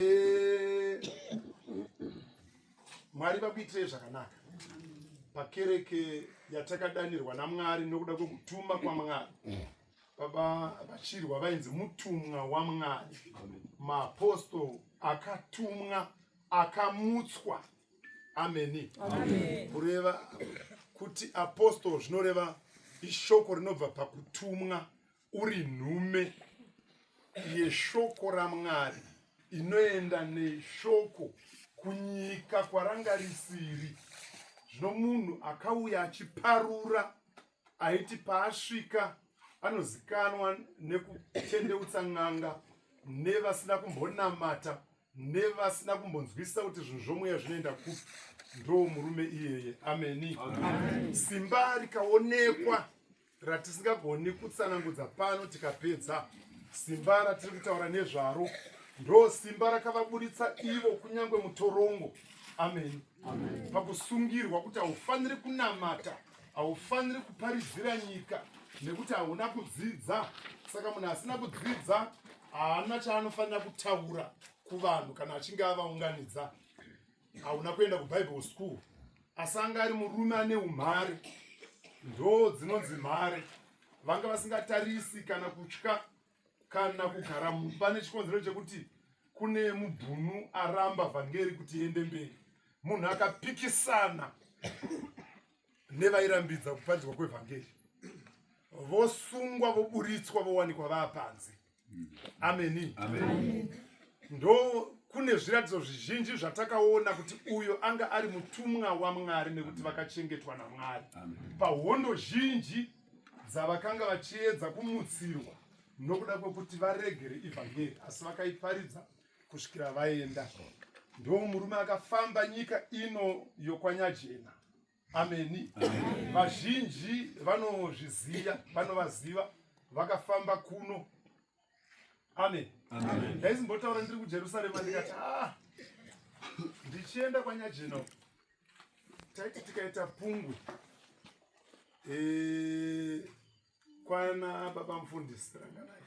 Eh, mwari vakuitirei zvakanaka pakereke yatakadanirwa namwari nokuda kwekutuma kwamwari baba vachirwa vainzi mutumwa wamwari maapostol akatumwa akamutswa ameni kureva kuti apostol zvinoreva ishoko rinobva pakutumwa uri nhume yeshoko ramwari inoenda neshoko kunyika kwaranga risiri zvino munhu akauya achiparura aiti paasvika anozikanwa nekutendeutsa n'anga nevasina kumbonamata nevasina kumbonzwisisa kuti zvinhu zvomweya zvinoenda kupi ndoo murume iyeye ameni simba rikaonekwa ratisingagoni kutsanangudza pano tikapedza simba ratiri kutaura nezvaro ndo simba rakavaburitsa ivo kunyange mutorongo amen, amen. pakusungirwa kuti haufaniri kunamata haufaniri kuparidzira nyika nekuti hauna kudzidza saka munhu asina kudzidza haana chaanofanira kutaura kuvanhu kana achinge avaunganidza hauna kuenda kubible school asi anga ari murume ane umhare ndoo dzinonzi mhare vanga vasingatarisi kana kutya kana kugara mumba nechikonzero chekuti kune mubhunu aramba vhangeri kuti iende mberi munhu akapikisana nevairambidza kuparidzwa kwevhangeri vosungwa voburitswa vowanikwa vaapanze ameni ndo kune zviratidzo zvizhinji zvatakaona kuti uyo anga ari mutumwa wamwari nekuti vakachengetwa namwari pahondo zhinji dzavakanga vachiedza kumutsirwa nokuda kwekuti varegere ivhangeri asi vakaiparidza kusvikira vaenda ndo murume akafamba nyika ino yokwanyajena ameni vazhinji vanozviziva vanovaziva vakafamba kuno amen ndaizimbotaura ndiri kujerusarema ndikati ah, ndichienda kwanyajeno taiti tikaita pungwe eh, kwana baba mufundisi ranganai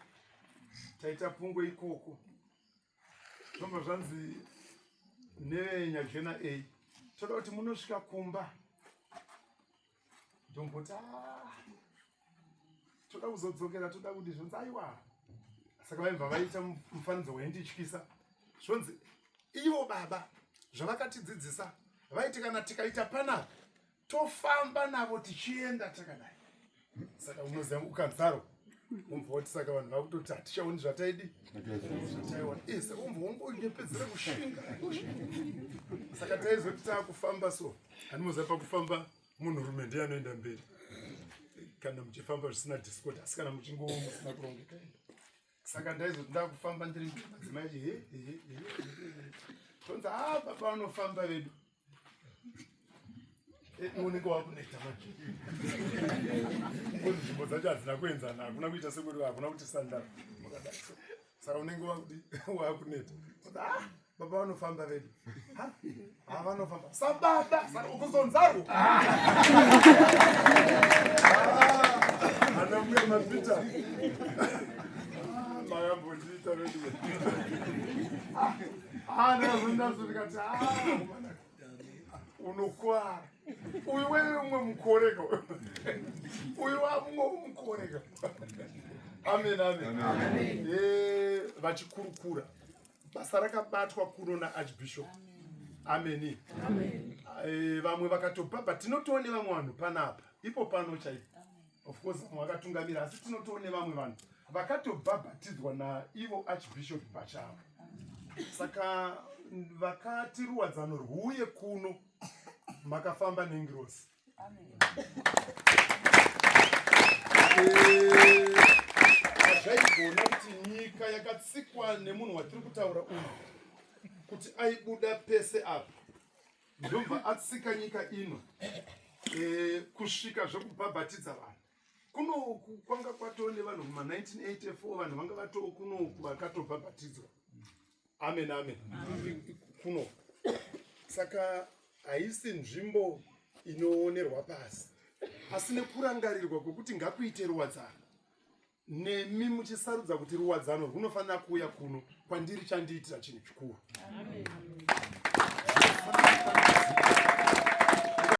taita pungwe ikoko zvobva zvanzi nenyajena a toda kuti munosvika kumba ndomboti ah, toda kuzodzokera toda kuti zvonzi aiwa saka vaibva vaita mufananidzo waindityisa zvonzi ivo baba zvavakatidzidzisa vaiti kana tikaita panapa tofamba navo tichienda takadai saka unoziva ukadzaro umbva wati saka vanhu vakutoti hatichaoni zvataidi zvataiona ise umbva wongonyepedzera kushinga saka taizoti taakufamba so handimoziva pakufamba munhurume ndiye anoenda mberi kana muchifamba zvisina discord asi kana muchingowo musina kurongeka saka ndaizoti ndakufamba ndiri madzimai tonzi ha ah, baba vanofamba vedu Eh, unenge wakuneta manje nzvimbo dzacho hadzina kuenzana hakuna kuita sekuri hakuna kuti sandara makadai saka unenge wakudi wakuneta ah, baba vanofamba vedu havanofamba ah, sababa ukuzonzarwo ah. anamuya mapita mayambondiita vedu Ah, unokwara uyu wewe umwe mukoreka uyu wamumwe umukoreka amen amen eh, vachikurukura basa rakabatwa kuno naarchbishop ameni eh, vamwe vakatopa but tinotoone vamwe vanhu panapa ipo pano chaipo of course vamwe vakatungamira asi tinotowo nevamwe vanhu vakatobhabhatidzwa naivo archbishop pachavo saka vakati ruwadzano rwuye kuno makafamba nengirosi hazvaigona kuti nyika yakatsikwa nemunhu watiri kutaura uyu kuti aibuda pese apa ndobva atsika nyika ino e, kusvika zvekubhabhatidza vanhu kunoku kwanga kwatoo nevanhu kuma 1984 vanhu vanga vatoo kunoku vakatobhabhatidzwa amen amen kunoku saka haisi nzvimbo inoonerwa pasi asi nekurangarirwa kwekuti ngakuite ruwadzano nemi muchisarudza kuti ruwadzano rwunofanira kuuya kuno kwandiri chandiitira chinhu chikuru